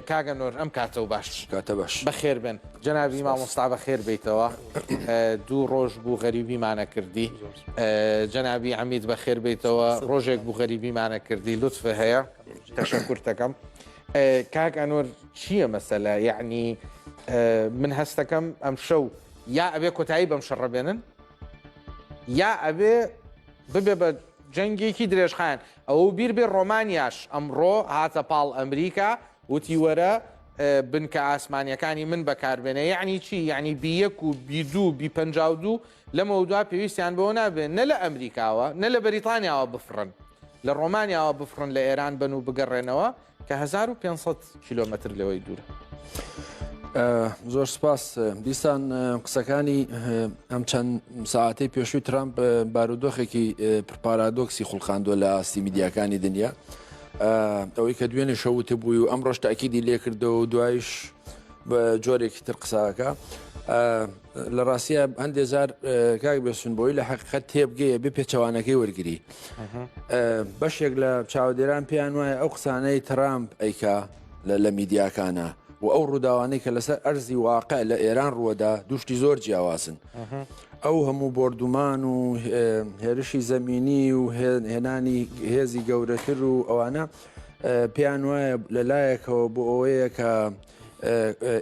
کاگە نۆر ئەم کاتە و باش کاتە باش بەخێر بن جەنابی مامۆستا بەخێر بیتەوە دوو ڕۆژ بوو غەریبیمانە کردی جەنابی عمید بەخێر بیتەوە ڕۆژێک بوو غەریبیمانە کردی لطف هەیە تەشە کورتەکەم کاک ئەنۆر چییە مەسەلە یعنی من هەستەکەم ئەم شەو یا ئەبێ کۆتایی بەم شەڕە بێنن یا ئەبێ ببێ بە جەنگێکی درێژخان ئەوەو بیر بێ ڕۆمانیاش ئەمڕۆ هاتە پاڵ ئەمریکا وتی وەرە بنکە ئاسمانیەکانی من بەکاربێنە یعنی چی یعنی بیەک و بیدو و بی پەنجا و دوو لەمە دوا پێویستیان بەوە نابێن نە لە ئەمریکاوە نە لە بەریتانیاوە بفڕن لە ڕۆمانیاوە بفڕن لە ئێران بن و بگەڕێنەوە کە هەزار و پێنج سەد کیلۆمەتر لەوەی دوورە. زۆر سپاس دیسان قسەکانی ئەم چەند ساعتی پێشووی ترامپ بارودۆخێکی پرپارادۆکسی خوڵقاندوە لە ئاستی میدیاکانی دنیا ئەوەی کە دوێنێ شەوت بووی و ئەم ڕۆژ تاکیدی لێکردەوە و دوایش بە جۆرێکی تر قساکە لە ڕاستە هەندێ زار کاک بێسون بۆی لە حقیقت تێبگەیە بێ پێچەوانەکەی وەرگری بەشێک لە چاودێران پێیان وایە ئەو قسانەی ترامپ ئەیکا لە میدیاکانە و ئەو ڕووداوانەی کە لەسەر ئەرزی واقع لە ئێران ڕووەدا دوشتی زۆر جیاوازن ئەو هەموو بردومان و هێرشی زەمینی و هێنانی هێزی گەورەتر و ئەوانە پێیان وایە لە لایەکەوە بۆ ئەوەیە کە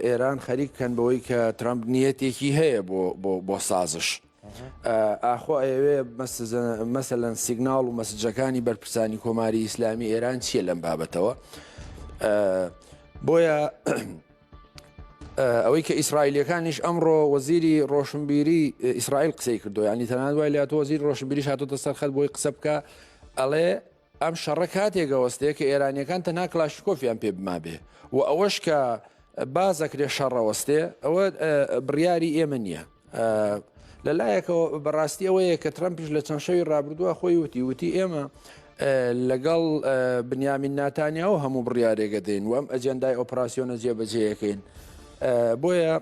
ئێران خەریک بکەن بەوەی کە ترامپ نیەتێکی هەیە بۆ سازش. ئاخۆ ئەوێ مەسەلەن سیگناڵ و مەسجەکانی بەرپرسانی کۆماری ئیسلامی ئێران چییە لەم بابەتەوە بۆیە ئەوەی کە ئیسرائیلەکانیش ئەمڕۆ وەزیری ڕۆشنبیری ئیسرائیل قسەی کردو ینی تەنان وای لات وەزیر ڕۆشنبیری هاتۆتە سەرخەت بۆی قسە بکە ئەڵێ ئەم شەڕە کاتێک ئەوەستێ کە ئێرانیەکان تەنها کلاشکۆفیان پێ بمابێ و ئەوەش کە بازەکرێ شەڕەوەستێ ئەوە بڕیاری ئێمە نییە. لە لایەکەوە بەڕاستی ئەوەیە کە ترمپیش لە چەند شەوی ڕابردووە خۆی وتی وتی ئێمە لەگەڵ بنیامین ناتانیا و هەموو بڕارێگە دێن وەم ئەجێندای ئۆپراسسیۆنە جێبەجێیەکەین بۆیە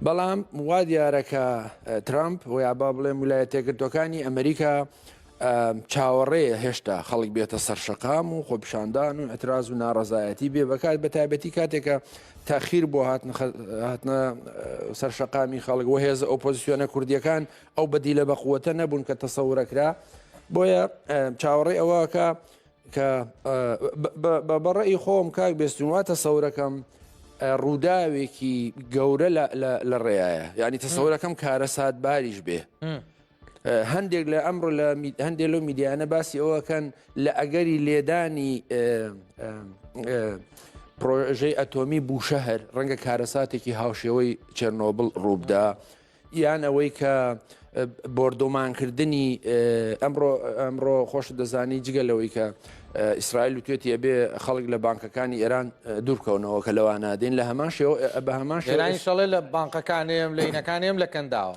بەڵام وا دیارەکە ترامپ ویا با بڵێم ویلایەتێکردەکانی ئەمریکا چاوەڕێیە هێشتا خەڵک بێتە سەرشەقام و خۆپشاندان و ئەتراز و ناڕزایەتی بێ بەکات بە تایبەتی کاتێکە تاخیر بۆ هاتنە سەرشەقامی خەڵک و هێز ئۆپۆزیسیۆنە کوردیەکان ئەو بەدی لە بەقوتە نەبوون کە تەسەورەکرا بۆیە چاوەڕێ ئەوەکە کە بەڕێی خۆم کاک بێستونوا تەسەورەکەم ڕووداوێکی گەورە لە ڕێایە یعنی تەسەورەکەم کارە سات باریش بێ. هەندێک لە ئەمڕۆ لە هەندێک لەو میدیانە باسی ئەوەکەن لە ئەگەری لێدانی پرۆژەی ئەتۆمی بوشەهر ڕەنگە کارەساتێکی هاوشێوەی چێرنۆبل ڕووبدا یان ئەوەی کە بۆردۆمانکردنی ئەمڕۆ ئەمڕۆ خۆش دەزانی جگە لەوەی کە ئیسرائیل و توێتی ئەبێ خەڵک لە بانکەکانی ئێران دوورکەونەوە کە لەوانادەین لە هەمان شێوە بە هەمان شێرانی شەڵێ لە بانقەکانێم لەینەکانێم لە کەنداوە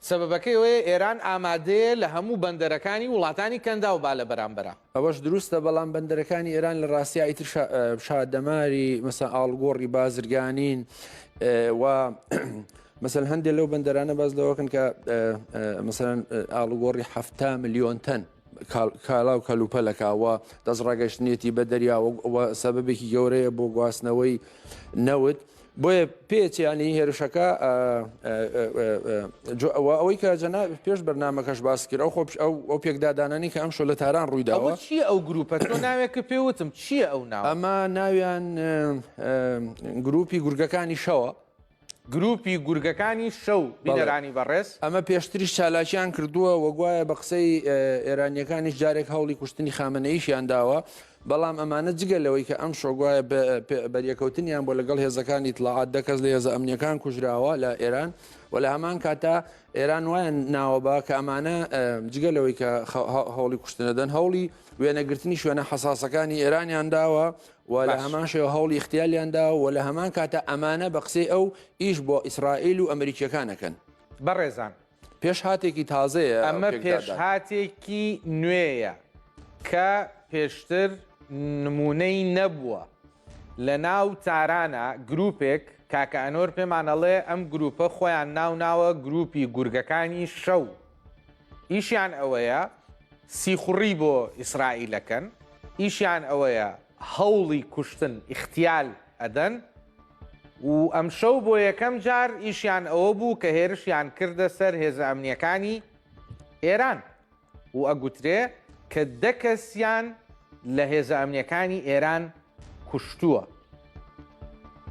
سەبەبەکەی ئەوەیە ئێران ئامادەیە لە هەموو بەندەرەکانی وڵاتانی کەنداو با لە بەرامبەرا. ئەوەش دروستە، بەڵام بەندەرەکانی ئێران لە ڕاستیا ئیتر شادەماری مەسەن ئاڵوگۆڕی بازرگانین و مەسەن هەندێک لەو بەندەرانە باس لەوەکەن کە مەسەن ئاڵوگۆڕی حەفتا ملیۆن تەن. کالا و کەلوپەلەکە و دەستڕاگەشتنێتی بە دەریا و سەبەبێکی گەورەیە بۆ گواستنەوەی نەوت بۆیە پێچیانی هێرشەکە ئەوەی کە جەنا پێش بەرنمەکەش باس کرد ئەو خۆپش ئەو ئەو پێکدادانانی کە ئەم شۆ لە تاران ڕوویداوە چی ئەو گروپە تۆ ناوێکە پێوتم چییە ئەو ناو ئەمە ناویان گروپی گورگەکانی شەوە گروپی گورگەکانی شەو بینەرانی بەڕێز. ئەمە پێشتریش چالاکیان کردووە و گوایە بە قسەی ئێرانییەکانیش جارێک هەوڵی کوشتنی خامنەییشیان داوە، بەڵام ئەمانە جگە لەوەی کە ئەمشۆ گوایە بەریەکەوتنیان بۆ لەگەڵ هێزەکانی ئیتڵاعات دە کەس لە هێزە ئەمنییەکان کوژراوە لە ئێران و لە هەمان کاتا ئێران وایان ناوە بە کە ئەمانە جگە لەوەی کە هەوڵی کوشتنەدەن هەوڵی وێنەگرتنی شوێنە حەساسەکانی ئێرانیان داوە و لە هەمان شێوە هەوڵی ئیغتیالیان داوە و لە هەمان کاتە ئەمانە بە قسەی ئەو ئیش بۆ ئیسرائیل و ئەمریکییەکان ئەکەن. بەڕێزان. پێشهاتێکی تازەیە ئەو پێکدادانە. ئەمە پێشهاتێکی نوێیە کە پێشتر نموونەی نەبووە. لە ناو تارانە گرووپێک، کاکە ئەنۆر پێمان ئەڵێ ئەم گرووپە خۆیان ناوناوە گرووپی گورگەکانی شەو. ئیشیان ئەوەیە سیخوڕی بۆ ئیسرائیلەکەن ئیشیان ئەوەیە هەوڵی کوشتن ئیختیال ئەدەن و ئەمشەو بۆ یەکەم جار ئیشیان ئەوە بوو کە هێرشیان کردە سەر هێزە ئەمنیەکانی ئێران و ئەگوترێ کە دە کەسیان لە هێزە ئەمنیەکانی ئێران کوشتووە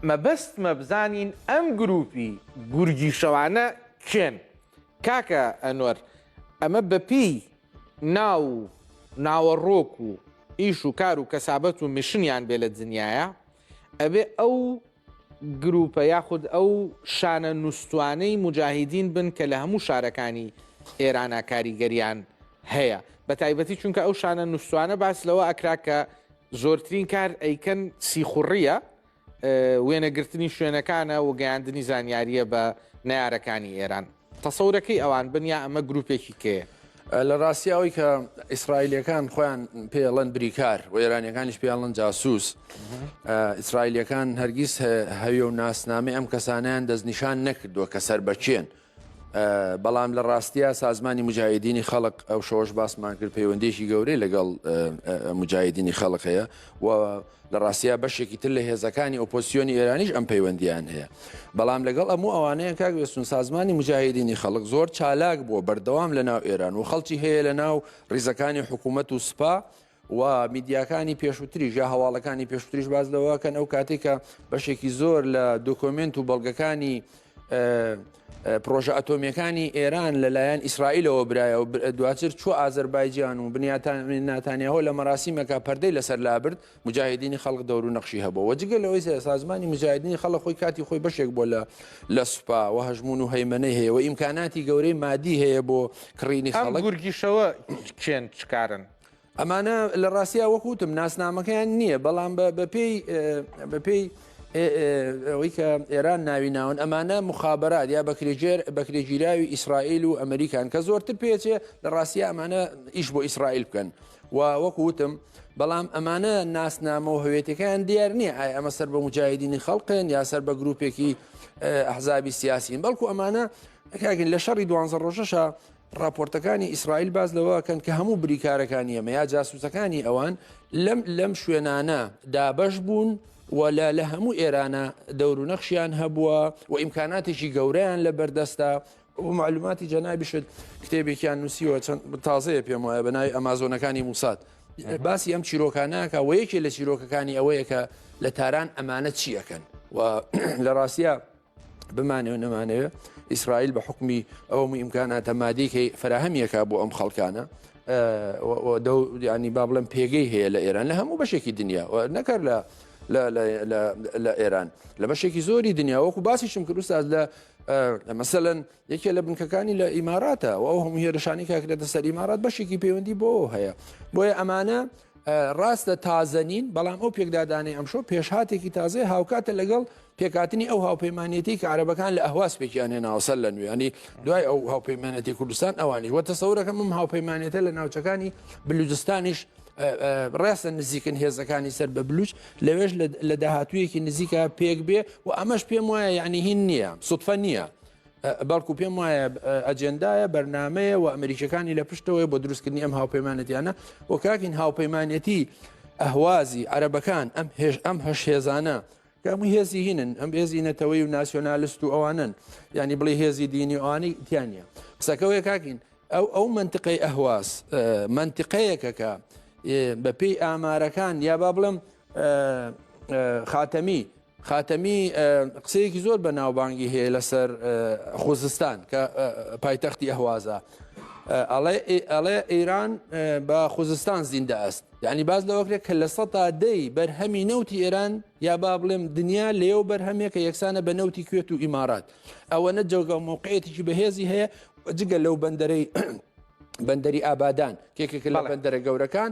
مەبەست مەبزانین ئەم گروپی گورگی شەوانە کێن کاکە ئەنوەر ئەمە بەپێی ناو و ناوەڕۆک و ئیش و کار و کەسابەت و میشنیان بێ لە دنیاە ئەبێ ئەو گروپە یاخود ئەو شانە نووسوانەی مجاهیدین بن کە لە هەموو شارەکانی ئێرانە کاریگەریان هەیە بە تایبەتی چونکە ئەو شانە نووسوانە باس لەوە ئەکرا کە زۆرترین کار ئەیکەن سیخوڕیە وێنەگرتنی شوێنەکانە و گەیاندنی زانیارییە بە نەیارەکانی ئێران. تەسەورەکەی ئەوان بن یا ئەمە گروپێکی کێیە؟ لە ڕاستی ئەوەی کە ئیسرائیلەکان خۆیان پێڵەن بریکار و ئێرانیەکانیش پێڵەن جاسوس ئیسرائیلەکان هەرگیز هەویە و ناسنامەی ئەم کەسانیان دەستنیشان نەکردووە کە سەر بەچێن بەڵام لە ڕاستیا سازمانی مجاهدینی خەڵق ئەو شەوەش باسمان کرد پەیوەندێکی گەورەی لەگەڵ مجاهدینی خەڵق هەیە و لە ڕاستیا بەشێکی تر لە هێزەکانی ئۆپۆسیۆنی ئێرانیش ئەم پەیوەندیان هەیە بەڵام لەگەڵ ئەموو ئەوانەیە کاک وێستون سازمانی مجاهدینی خەڵک زۆر چالاک بووە بەردەوام لە ناو ئێران و خەڵکی هەیە لە ناو ڕیزەکانی حکوومەت و سوپا و میدیاکانی پێشووتریش یا هەواڵەکانی پێشووتریش باز لەوەکەن ئەو کاتێکە بەشێکی زۆر لە دۆکۆمنت و بەڵگەکانی پرۆژە ئەتۆمیەکانی ئێران لەلایەن ئیسرائیلەوە برایە و دواتر چوە ئازربایجان و بنیاتان ناتانیاهۆ لە مەراسیمەکە پەردەی لەسەر لابرد مجاهدینی خەڵک دەور و نەخشی هەبوو وەجگە لەوەی سازمانی مجاهدینی خەڵە خۆی کاتی خۆی بەشێک بۆ لە لە سوپا و هەژمون و هەیمەەی هەیە و ئیمکاناتی گەورەی مادی هەیە بۆ کڕینی خەڵک گورگیشەوە چێن چکارن ئەمانە لە ڕاستیا وەکوتم ناسنامەکەیان نییە بەڵام بەپێی ئەوەی کە ئێران ناوی ناون ئەمانە مخابرات یا بەکرێژێر بەکرێگیراوی ئیسرائیل و ئەمریکان کە زۆرتر پێچێ لە ڕاستە ئەمانە ئیش بۆ ئیسرائیل بکەن و وەکو وتم بەڵام ئەمانە ناسنامە و هەوێتەکان دیار نییە ئای ئەمە سەر بە مجاهدینی خەڵقێن یا سەر بە گرروپێکی ئەحزابی سیاسین بەڵکو ئەمانە کاگەن لە شەڕی دوانزە ڕۆژەشە ڕاپۆرتەکانی ئیسرائیل باس لەوەکەن کە هەموو بریکارەکانی ئەمە یا جاسوسەکانی ئەوان لەم لەم شوێنانە دابش بوون ولا لە هەموو ئێرانە دەورو نەخشیان هەبووە و ئیمکاناتێکی گەورەیان لە بەردەستە معلوماتی جەنابیشت کتێبێکیان نووسیوە چەند تازەیە پێم وایە بە ناوی ئەمازۆنەکانی موسات باسی ئەم چیرۆکانەکە و یەکێ لە چیرۆکەکانی ئەوەیە کە لە تاران ئەمانە چیەکەن و لە ڕاستە بمانەوە نەمانەوە ئیسرائیل بە حکمی ئەو ئیمکاناتە مادیکەی فراهەمیەکە بۆ ئەم خەڵکانە ینی با بڵم پێگەی هەیە لە ئێران لە هەموو بەشێکی دنیا نەکەر لە لە ئێران لە بەشێکی زۆری دنیا وەکو باسیشم کرد ساز لە مەسەن یەکێ لە بنکەکانی لە ئیماراتە و ئەو هەموو هێرشانی کاکرێتە سەر ئیمارات بەشێکی پەیوەندی بۆ هەیە بۆیە ئەمانە ڕاستە تازەنین بەڵام ئەو پێکدادانی ئەمشۆ پێشهاتێکی تازای هاوکاتە لەگەڵ پێکاتنی ئەو هاوپەیمانەتی کە عربەکان لە ئەهواز پێکیان هێناوەسەر لە نوێنی دوای ئەو هاوپەیمانەتی کوردستان ئەوانی وە تەسەورەکە مم هاوپەیمانێتە لە ناوچەکانی بلوجستانیش ڕاستە نزیکن هێزەکانی سەر بە بلوچ لەوێش لە داهاتوویەکی نزیکە پێک بێ و ئەمەش پێم وایە یعنی هین نییە سوتفە نییە بەڵکو پێم وایە ئەجێندایە بەرنمەیە و ئەمریکەکانی لە پشتەوەی بۆ دروستکردنی ئەم هاوپەیمانەتیانە و کاکین هاوپەیمانەتی ئەهوازی عەرەبەکان ئەم هێش ئەم هەش هێزانە کەمووی هێزی هینن ئەم هێزی نەتەوەی و ناسیۆنالست و ئەوانن ینی بڵی هێزی دینی ئەوانی تیانە قسەکەوەیە کاکین ئەو ئەو منتقەی ئەهواز منتقەیەکەکە بەپێی ئامارەکان یا با بڵم خاتەمی خاتەمی قسەیەکی زۆر بە ناوبانگی هەیە لەسەر خوزستان کە پایتەختی ئەهوازە ئەڵێ ئێران بە خوزستان زیندە ئەست یعنی باز لەوەکرێت کە لە سە تا دەی بەرهەمی نەوتی ئێران یا با بڵێم دنیا لێو بەرهەمێکە یەکسانە بە نەوتی کوێت و ئیمارات ئەوە نە جەوگە و مووقعێتیی بەهێزی هەیە جگە لەو بەندەرەی بەندەری ئابادان کێکێک لە بەندەرە گەورەکان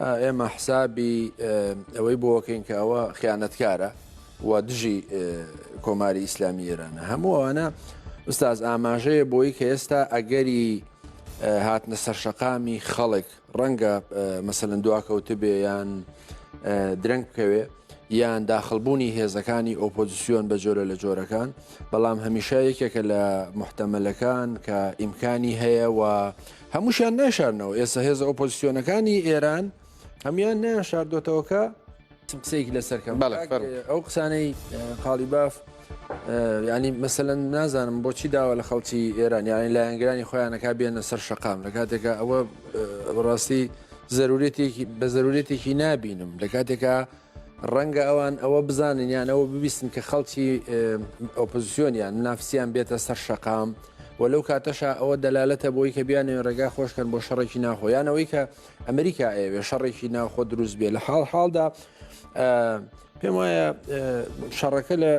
ئێمە حسابی ئەوەی بۆکەین کە ئەوە خیانەتکارە و دژی کۆماری ئیسلامی ئێرانە هەموو ئەوانە ئوستاز ئاماژەیە بۆی کە ئێستا ئەگەری هاتنە سەرشەقامی خەڵک ڕەنگە مەسەن دواکەوتە بێ یان درەنگ بکەوێ یان داخلبوونی هێزەکانی ئۆپۆزیسیۆن بە جۆرە لە جۆرەکان بەڵام هەمیشە یەکێکە لە محتەمەلەکان کە ئیمکانی هەیە و هەمووشیان ناشارنەوە ئێستا هێزە ئۆپۆزیسیۆنەکانی ئێران هەموان نیان شاردۆتەوەکە قسەیەک لەسەرکەم ئەو قسانەی قاڵی باف ینی مەسەەن نازانم بۆچی داوا لە خەڵکی ئێران یانی لایەنگرانی خۆیانەکە بێنە سەر شقام لە کاتێکە ئەوە ڕاستی زەرورێتێکی بە زەرورێتێکی نابینم لە کاتێکە ڕەنگە ئەوان ئەوە بزانن یان ئەوە ببیستن کە خەڵکی ئۆپۆزیسیۆنیان منافسیان بێتە سەر شەقام و لەو کاتەشا ئەوە دەلالەتە بۆی کە بیانێن ڕێگا خۆشکەن بۆ شەڕێکی ناخۆیانەوەی کە ئەمریکا ئەوێ شەڕێکی ناخۆ دروست بێ لە حاڵ حاڵدا پێم وایە شەڕەکە لە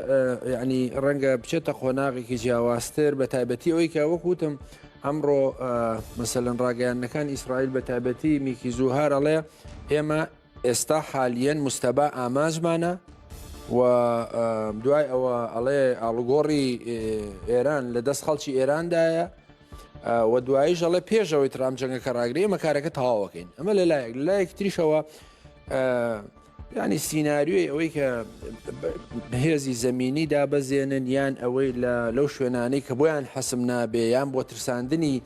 ینی ڕەنگە بچێتە قۆناغێکی جیاوازتر بە تایبەتی ئەوەی کە وەکوتم ئەمڕۆ مەسەلەن ڕاگەیانەکان ئیسرائیل بە تایبەتی میکی زوهارەڵێ ئێمە ئێستا حالیەن مجتەبا ئامانجمانە و دوای ئەوە ئەڵێ ئاڵوگۆڕی ئێران لە دەست خەڵکی ئێراندایە و دوایش ئەڵێ پێشەوەی ترام جەنگەکە ڕاگری ئەمە کارەکە تەواوەکەین ئەمە لە لایەک لایەک تریشەوە ینی سینناریۆی ئەوەی کە بەهێزی زمینی دابەزێنن یان ئەوەی لەو شوێنانەی کە بۆیان حەسم نابێ یان بۆ ترساندنی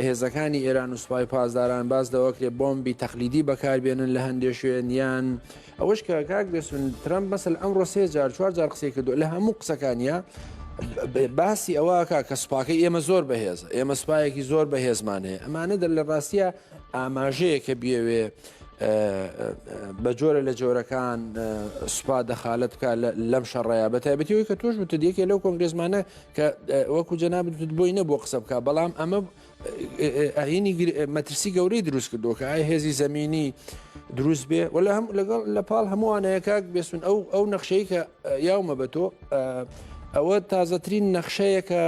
هێزەکانی ئێران و سوپای پاسداران باس لەوەکرێ بۆمبی تەقلیدی بەکاربێنن لە هەندێ شوێن یان ئەوەش کە کاک بێسون ترەمپ مەسەل ئەمڕۆ سێ جار چوار جار قسەی کردو لە هەموو قسەکانە باسی ئەوەکە کە سوپاکە ئێمە زۆر بەهێز ئێمە سوپایەکی زۆر بەهێزمان هەیە ئەمانە دەر لە ڕاستە ئاماژەیە کە بێوێ بە جۆرە لە جۆرەکان سوپا دەخالت بکە لەم شەڕەیە بە تایبەتیەوەی کە تۆش وتە دیەکێ لەو کۆنگرێزمانە کە وەکو جەنابت وت بۆی نەبووە قسە بکە بەڵام ئەمە ئاینی مەترسی گەورەی دروست کردو کە ئای هێزی زمینی دروست بێ وەلا هەم لەگەڵ لە پاڵ هەمووانەیەکاک بێسون ئەو ئەو نەخشەی کە یاومە بە تۆ ئەوە تازەترین نەخشەیە کە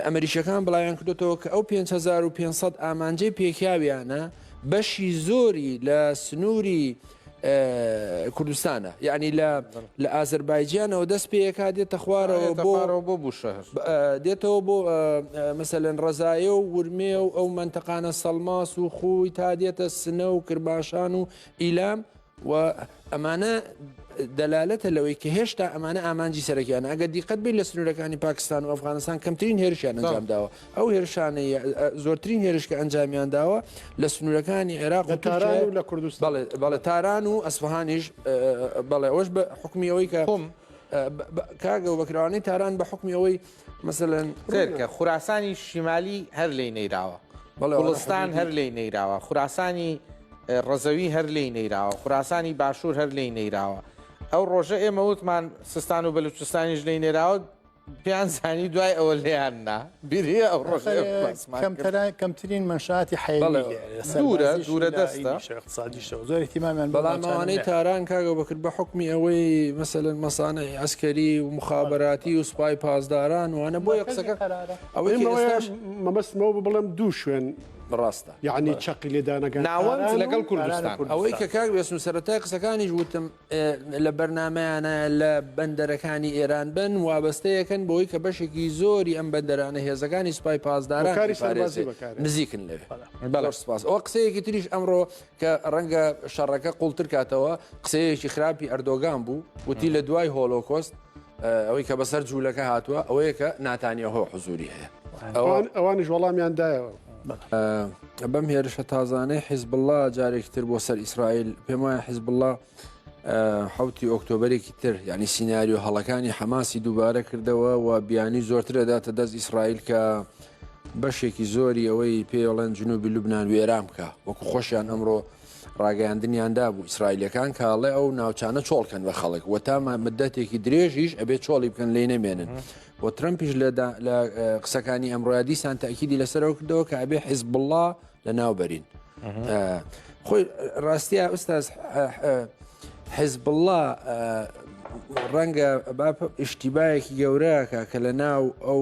ئەمریشەکان بڵیان کردێتەوە کە ئەو 5500 ئامانجەی پێکیاویانە بەشی زۆری لە سنووری کوردستانە یعنی لە لە ئازربایجانەوە دەست پێەکە دێتە خوارەوە بۆرەوە بۆ بوو شەهر دێتەوە بۆ مەسەلەن ڕزایە و ورمێ و ئەو منتەقانە سەلماس و خوی تا دێتە سنە و کرباشان و ئیلام و ئەمانە دەلالەتە لەوەی کە هێشتا ئەمانە ئامانجی سەرەکیانە ئەگە دیقەت بێت لە سنوورەکانی پاکستان و ئەفغانستان کەمترین هێرشیان ئەنجام داوە ئەو هێرشانەی زۆرترین هێرش کە ئەنجامیان داوە لە سنوورەکانی عێراق و تاران و لە کوردستان بەڵێ تاران و ئەسفهانیش بەڵێ ئەوش بە حکمی ئەوەی کە خۆم کاگە و بەکراوانەی تاران بە حکمی ئەوەی مەسەن فێرکە خوراسانی شیمالی هەر لی نەیراوە بەڵستان هەر لی نەیراوە خوراسانی ڕزەوی هەر لی نەیراوە خوراسانی باشوور هەر لی نەیراوە ئەو ڕۆژە ئێمە وتمان سستان و بەلوچستانیش لی نێراوە پێیان زانی دوای ئەوە لێیان نا بیری ئەو ڕۆژ کەمترین مەشاتی حەیلورە دوورە دەستە سادیشەوە زۆر احتیمامیان بەڵامانەی تاران کاگە بەکرد بە حکمی ئەوەی مەسەن مەسانە ئەسکەری و مخابراتی و سوپای پاسداران وانە بۆ قسەکە ئەوەی مەبەستمەوە بڵێم دوو شوێن ڕاستە یعنی چقی لێدانەکە ناوەند لەگەڵ کوردستان ئەوەی کە کاک بێسن سەرەتای قسەکانیش وتم لە بەرنامەیانە لە بەندەرەکانی ئێران بن، وابەستەیەکن بەوەی کە بەشێکی زۆری ئەم بەندەرانە هێزەکانی سوپای پاسداران هۆکاری سەربازی ئەیپارێزێت. بەکارێت. نزیکن لەوێ بەڵێ. زۆر سوپاس ئەوە قسەیەکی تریش ئەمڕۆ کە ڕەنگە شەڕەکە قوڵتر کاتەوە قسەیەکی خراپی ئەردۆگان بوو وتی لە دوای هۆلۆکۆست ئەوەی کە بەسەر جوولەکە هاتووە ئەوەیە کە ناتانیە هۆ حزوری هەیە ئەوانش وەڵامیان دایەوە بەم هێرشە تازانەی حیزبله جارێکی تر بۆ سەر ئیسرائیل پێم وایە حیزبله حوتی ئۆکتۆبرێکی تر ینی سینناریو هەڵەکانی حەماسی دووبارە کردەوە و بیانی زۆرترەداتە دەست ئیسرائیل کە بەشێکی زۆری ئەوەی پێڵێن جنوبی لوبناان وێران بکە وەکو خۆشیان ئەمڕۆ ڕاگەیاندنیان دابوو ئیسرائیلیەکان کە ئەڵێ ئەو ناوچانە چۆڵ کەن بە خەڵک و تا مدەتێکی درێژیش ئەبێ چۆڵی بکەن لی نەمێنن و ترمپیش لە قسەکانی ئەمڕۆیا دیسان تاکیدی لەسەرەوە کردەوە کە ئەبێ حیزب بڵا لە ناوبەرین خۆی ڕاستە ئوستاز حیزب بڵا ڕەنگە با ئشتیبایەکی گەورەکە کە لە ناو ئەو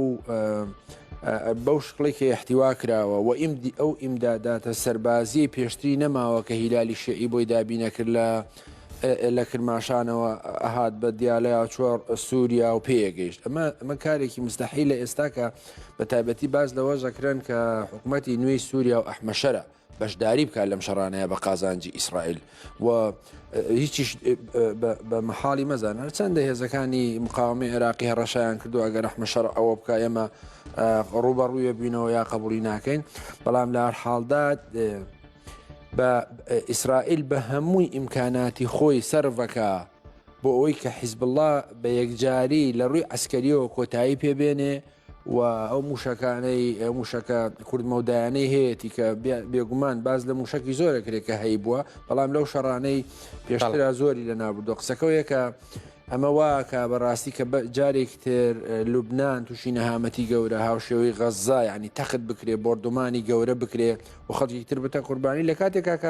بەو شکڵەی کە ئیحتیوا کراوە و ئەو ئیمداداتە سەربازیەی پێشتری نەماوە کە هیلالی شیعی بۆی دابینەکرد لە لە کرماشانەوە هات بە دیالەیا چۆر سووریا و پێگەیشت ئەمە ئەمە کارێکی مستحی لە ئێستاکە بە تایبەتی باز لەوە زەکرێن کە حکوومەتتی نوێی سووریا و ئەحمەشەرە بەشداری بکات لەم شەڕانەیە بە قازانجی ئیسرائیل و هیچیش بە مەحاڵی مەزانە چەندە هێزەکانی مقاومی عێراقی هەڕەشیان کردو ئەگەر رحمە شەڕ ئەوە بکە ئێمە ڕوبە ڕوویە بووینەوە یا قبولی ناکەین بەڵام لە هەر حاڵدا بە ئیسرائیل بە هەمووی ئیمکاناتی خۆی سەرڤەکە بۆ ئەوەی کە حیزب الله بە یەکجاری لە ڕووی ئەسکەریەوە کۆتایی پێبێنێ و ئەو مووشەکانەی ئەو مووشەکە کوردمەودایانەی هەیەی کە بێگومان باز لە مووشەکی زۆرە کرێت کە هەی بووە بەڵام لەو شەڕانەی پێشترا زۆری لە نابردو قسەکەوەیە کە ئەمە واکە بەڕاستی کە جارێک تر لوبناان تووشی نەهامەتی گەورە هاوشێوەی غەززا ینی تەخت بکرێ بردومانی گەورە بکرێ و خەڵکی تر بتە قوربانی لە کاتێکا کە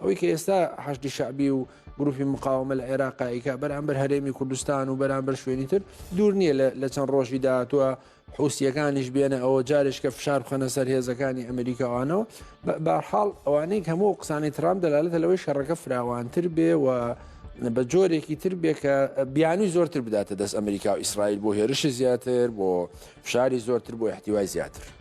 ئەوەی کە ئێستا حشدی شعبی و گروپی مقاومە لە عێراقایکە بەرامبەر هەرێمی کوردستان و بەرامبەر شوێنی تر دوور نییە لە چەند ڕۆژی داهاتوە حوسیەکانیش بێنە ئەوە جارێشکە فشار بخەنە سەر هێزەکانی ئەمریکاوانەوە بارحاڵ ئەوانەی هەموو قسانی ترام دەلالەتە لەوەی شەڕەکە فراوانتر بێ و بە جۆرێکی تر بێ کە بیانوی زۆرتر بداتە دەست ئەمریکا و ئیسرائیل بۆ هێرشی زیاتر بۆ فشاری زۆرتر بۆ احتیوای زیاتر.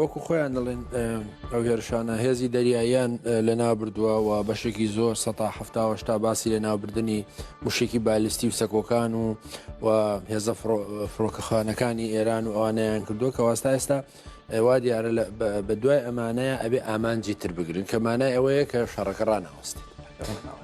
وەکو خۆیان دەڵێن ئەو هێرشانە هێزی دەریاییان لەنابردووە و بەشێکی زۆر سە هەشتا باسی لەناوبردننی مشێکی بالستی و سەکۆکان و و هێزە فڕۆکەخانەکانی ئێران و ئەوانیان کردووە کە واستا ئێستا وا دیارە بە دوای ئەمانەیە ئەبێ ئامانجی تر بگرن کە مانای ئەوەیە کە شەڕەکە ڕناوەستی.